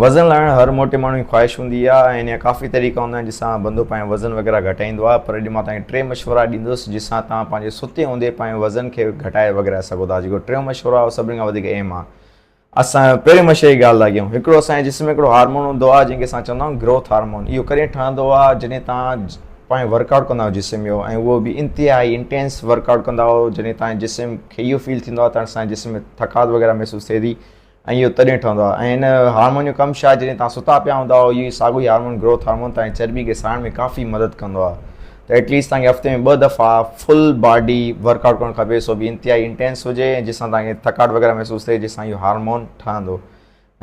وزن لاهڻ هر موٽي ماڻهو جي خواهش هوندي آهي ۽ ان جا ڪافي طريقا هوندا آهن جن سان بندو پنهنجو وزن وغيره گهٽائيندو آهي پر اڄ مان توهان کي ٽي مشورا ڏيندس جن سان توهان پنهنجي ستي هوندي پنهنجو وزن کي گهٽائي وغيره سگهو ٿا جيڪو ٽيون مشورو آهي سڀني کان وڌيڪ اهم آهي اسان پهرين مشوري جي ڳالهه ٿا ڪيون هڪڙو اسان جي جسم ۾ هڪڙو هارمون هوندو آهي جنهن کي اسان چوندا آهيون گروٿ هارمون اهو ڪڏهن ٺهندو آهي جڏهن تان پنهنجو ورڪ آؤٽ ڪندا آهيو جسم جو ۽ اهو به انتهائي انٽينس ورڪ آؤٽ ڪندا آهيو جڏهن تان جسم کي اهو فيل ٿيندو آهي ته اسان جسم ۾ ٿڪاوٽ وغيره محسوس ٿئي ٿي ۽ اهو تڏهن ٺهندو آهي ۽ هن هارمون جو ڪم شايد جڏهن توهان ستا پيا هوندا اهو ئي ساڳيو ئي هارمون گروٿ هارمون توهانجي چرٻي کي ساڙڻ ۾ ڪافي مدد ڪندو آهي ته ايٽ ليسٽ توهانکي هفتي ۾ ٻه دفعا فل باڊي ورڪ آئوٽ ڪرڻ کپي سو به انتهائي انٽينس هجي ۽ جس سان توهانکي ٿڪاٽ وغيره محسوس ٿئي جس سان اهو هارمون ٺهندو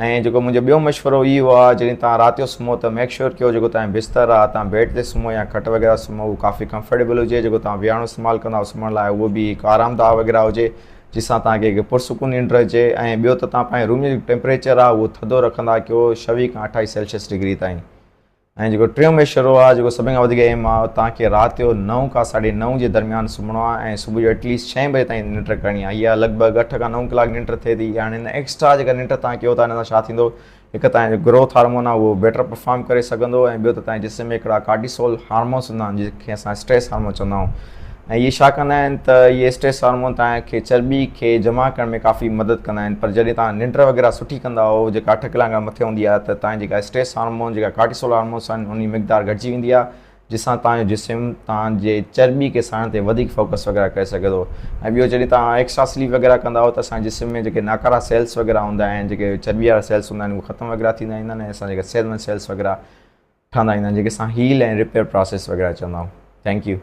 ۽ جيڪو منهنجو ٻيو مشورو اهو آهي جڏهن توهان رات جو سمهو ته ميڪ شور ڪيو جيڪو توهانجو بستر آهي توهان بيڊ تي سمهو يا کٽ وغيره سمهو اهو ڪافي ڪمفرٽيبل هجي جيڪو توهان ويهاڻو استعمال ڪندا سمهڻ لاء اهو به هڪ آرام داهه وغيره هجي جنهن سان توهان کي هڪ پرسڪون ننڊ اچي ۽ ٻيو ته توهان پنهنجي روم جو جيڪو ٽيمپريچر آهي اهو ٿڌو رکندا ڪيو ڇويهه کان اٺائيس سيلشيس ڊگري تائين ۽ جيڪو ٽيون مشورو آهي جيڪو سڀني کان وڌيڪ اهم آهي اهو توهان کي رات جو نو کان ساڍي نو جي درميان سمهڻو آهي ۽ صبح جو ايٽ ليسٽ ڇهين بجي تائين ننڊ ڪرڻي آهي اها لڳ ڀڳ اٺ کان نو ڪلاڪ ننڊ ٿئي ٿي هاڻي هن ايڪسٽرا جيڪا ننڊ توهان ڪيو ٿا ان سان ڇا ٿيندو هڪ ته تنهنجو گروٿ هارمون آهي اهو بيٽر پرفارم ڪري سگهندو ۽ ٻيو ته تنهنجي جسم ۾ هڪڙا ڪارٽيسول هارمونس هوندا آهن جن کي اسان اسٽريس هارمون چوندا آهيون ۽ اهي ڇا ڪندا آهن ته اهي اسٽريس هارمون تنهن کي چرٻي کي جمع ڪرڻ ۾ ڪافي مدد ڪندا آهن پر جڏهن تنهن ننڊ وغيره سٺي ڪندا آهو جيڪا اٺ ڪلاڪ کان مٿي هوندي آهي ته تنهنجي جيڪا اسٽريس هارمون جيڪا ڪارٽيسول هارمونس آهن انهن جي مقدار گهٽجي ويندي آهي جنهن سان توهان جو جسم توهان جي چرٻي کي ساڙڻ تي وڌيڪ فوڪس وغيره ڪري سگهي ٿو ۽ ٻيو جڏهن توهان ايڪسٽرا سليپ وغيره ڪندا آهيو ته اسان جي جسم ۾ جيڪي ناڪارا سيلس وغيره هوندا آهن جيڪي چرٻي وارا سيلس هوندا آهن اهي ختم وغيره ٿيندا ويندا آهن ۽ اسان جيڪي صحت مند سيلس وغيره ٺهندا ويندا آهن جيڪي اسان هيل ۽ رپيئر پراسيس وغيره چوندا آهيون ٿينڪ يو